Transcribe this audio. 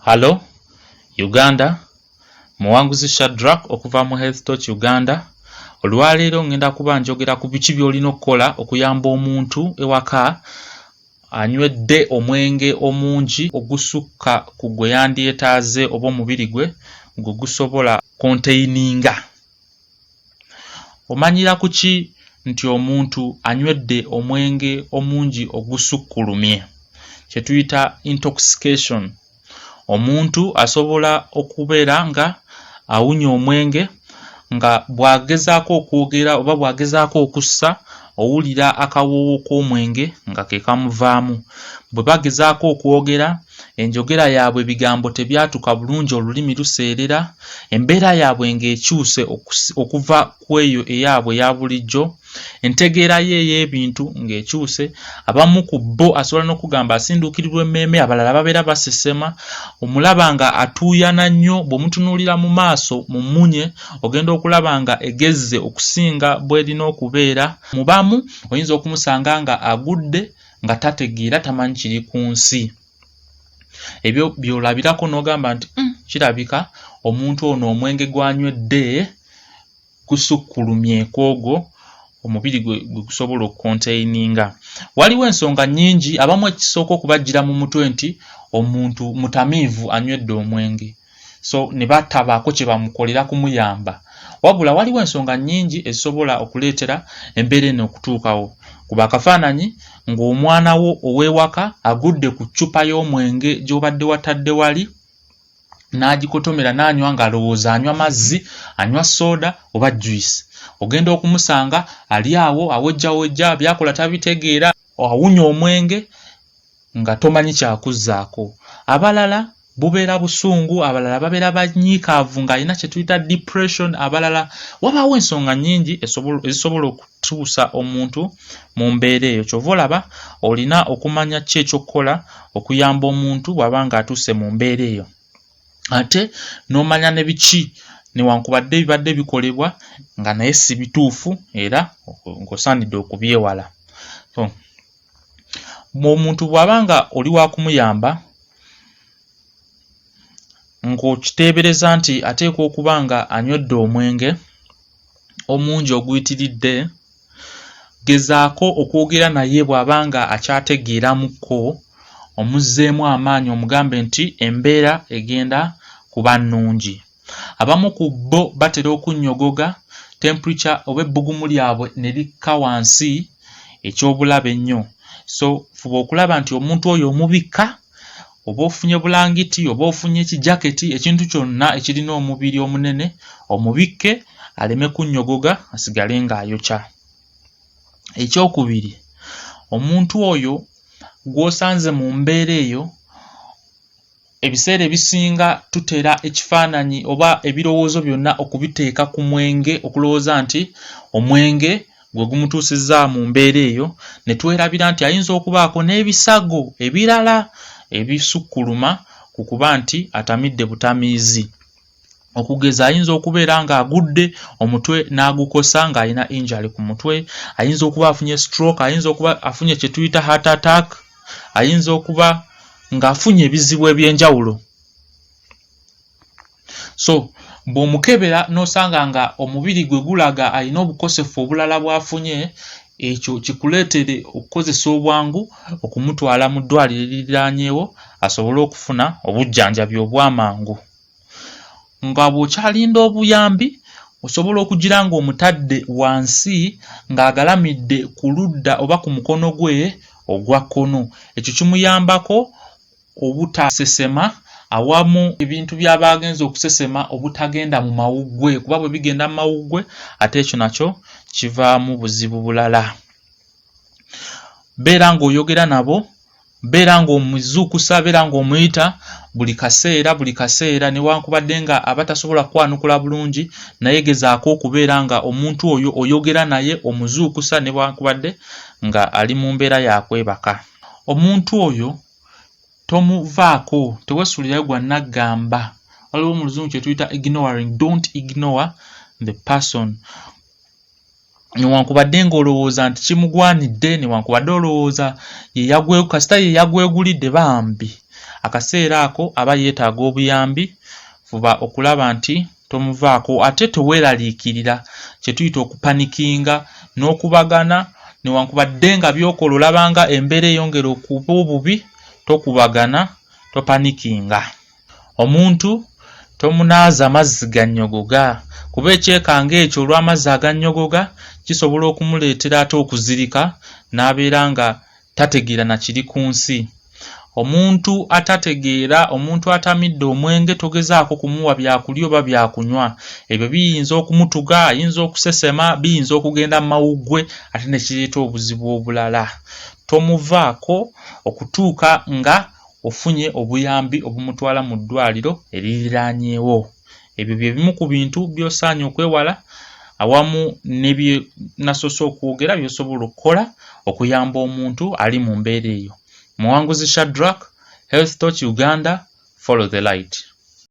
Hallo Uganda, Muwanguzi Shadrack okuva mu Health Torch Uganda. Olwaleero ngenda kuba njogera ku biki by'olina okukola okuyamba omuntu ewaka anywedde omwenge omungi ogusukka ku gwe yandyetaaze oba omubiri gwe gwe gusobola konteininga. Omanyira ku ki nti omuntu anywedde omwenge omungi ogusukkulumye, kye tuyita intoxication? Omuntu asobola okubeera nga awunya omwenge nga bw'agezaako okwogera oba bw'agezaako okussa owulira akawoowo k'omwenge nga ke kamuvaamu. Bwe bagezaako okwogera... enjogera yaabwe ebigambo tebyatuka bulungi olulimi luseerera, embeera yaabwe ng'ekyuse okuva ku eyo eyaabwe eya bulijjo, entegeera ye ey'ebintu ng'ekyuse, abamu ku bo asobola n'okugamba asinduukirirwa emmeeme, abalala babeera basesema, omulaba nga atuuyana nnyo, bw'omutunuulira mu maaso mu mmunye ogenda okulaba nga egezze okusinga bw'erina okubeera, mu bamu oyinza okumusanga nga agudde, nga tategeera tamanyi kiri ku nsi ebyo byolabirako n'ogamba nti mm, kirabika omuntu ono omwenge gwanywedde gusukkulumye kwogwo omubiri gwe gusobola okukonteininga waliwo ensonga nnyingi abamu ekisooka okubajjira mu mutwe nti omuntu mutamiivu anywedde omwenge so ne batabaako kye bamukolera kumuyamba. Wabula waliwo ensonga nnyingi ezisobola okuleetera embeera eno okutuukawo. Kuba akafaananyi ng'omwana wo ow'ewaka agudde ku ccupa y'omwenge gy'obadde watadde wali n'agikotomera n'anywa ng'alowooza anywa mazzi, anywa sooda oba juyisi. Ogenda okumusanga ali awo awejjawejja, by'akola tabitegeera, awunya omwenge. nga tomanyi kyakuzzaako. Abalala bubeera busungu, abalala babeera banyiikaavu ng'alina kye tuyita depression, abalala wabaawo ensonga nnyingi ezisobola okutuusa omuntu mu mbeera eyo. Kyova olaba olina okumanya ki ekyokukola okuyamba omuntu bw'aba ng'atuuse mu mbeera eyo ate n'omanya ne biki newankubadde ebibadde bikolebwa nga naye si bituufu era ng'osaanidde okubyewala. ng'omuntu bw'aba nga oli wakumuyamba ng'okiteebereza nti ateekwa okuba nga anywedde omwenge omungi oguyitiridde, gezaako okwogera naye bw'aba nga akyategeeramukko omuzzeemu amaanyi omugambe nti embeera egenda kuba nnungi. Abamu ku bo batera okunnyogoga, temperature oba ebbugumu lyabwe ne likka wansi eky'obulabe ennyo. So fuba okulaba nti omuntu oyo omubikka oba ofunye bulangiti oba ofunye ekijaketi ekintu kyonna ekirina omubiri omunene omubikke aleme kunnyogoga asigale ng'ayokya. Ekyokubiri, omuntu oyo gw'osanze mu mbeera eyo Ebiseera ebisinga tutera ekifaananyi oba ebirowoozo byonna okubiteeka ku mwenge okulowooza nti omwenge gwe gumutuusizza mu mbeera eyo ne twerabira nti ayinza okubaako n'ebisago ebirala ebisukkuluma ku kuba nti atamidde butamiizi. okugeza ayinza okubeera ng'agudde omutwe n'agukosa ng'alina injali ku mutwe ayinza okuba afunye stroke ayinza okuba afunye kye tuyita heart attack ayinza okuba ng'afunye ebizibu eby'enjawulo so bw'omukebera n'osanga nga omubiri gwe gulaga alina obukosefu obulala bw'afunye ekyo kikuleetere okukozesa obwangu okumutwala mu ddwaliro eririranyewo asobole okufuna obujjanjabi obw'amangu nga bw'okyalinda obuyambi osobola okugira ng'omutadde wansi ng'agalamidde ku ludda oba ku mukono gwe ogwa kkono. Ekyo kimuyambako obutasesema awamu ebintu by'aba agenze okusesema obutagenda mu mawuggwe kuba bwe bigenda mu mawuggwe ate ekyo nakyo kivaamu buzibu bulala. Beera ng'oyogera nabo beera ng'omuzuukusa, beera ng'omuyita buli kaseera buli kaseera, newankubadde nga aba tasobola kukwanukula bulungi, naye gezaako okubeera nga omuntu oyo oyogera naye, omuzuukusa newankubadde nga ali mu mbeera ya kwebaka. Omuntu oyo tomuvaako, tewesulirayo gwa naggamba, waliwo mu luzungu kye tuyita ignoring, don't ignore the person. newankubadde ng'olowooza nti kimugwanidde newankubadde olowooza yeyagwe kasita yeyagwegulidde bambi akaseera ako aba yeetaaga obuyambi fuba okulaba nti tomuvaako ate teweeraliikirira kye tuyita okupanikinga n'okubagana newankubadde nga byokola olabanga embeera eyongera okuba obubi tokubagana topanikinga Omuntu tomunaaza mazzi gannyogoga kuba ekyekango ekyo olw'amazzi agannyogoga kisobola okumuleetera ate okuzirika n'abeera nga tategeera na kiri ku nsi. Omuntu atategeera, omuntu atamidde omwenge togezaako kumuwa byakulya oba byakunywa. Ebyo biyinza okumutuga, ayinza okusesema, biyinza okugenda mu mawuggwe ate ne kireeta obuzibu obulala. Tomuvaako okutuuka nga ofunye obuyambi obumutwala mu ddwaaliro eririraanyewo. Ebyo bye bimu ku bintu by'osaanye okwewala awamu ne bye nasoose okwogera by'osobola okukola okuyamba omuntu ali mu mbeera eyo. Muwanguzi Shadrack, Health Torch Uganda, Follow the Light.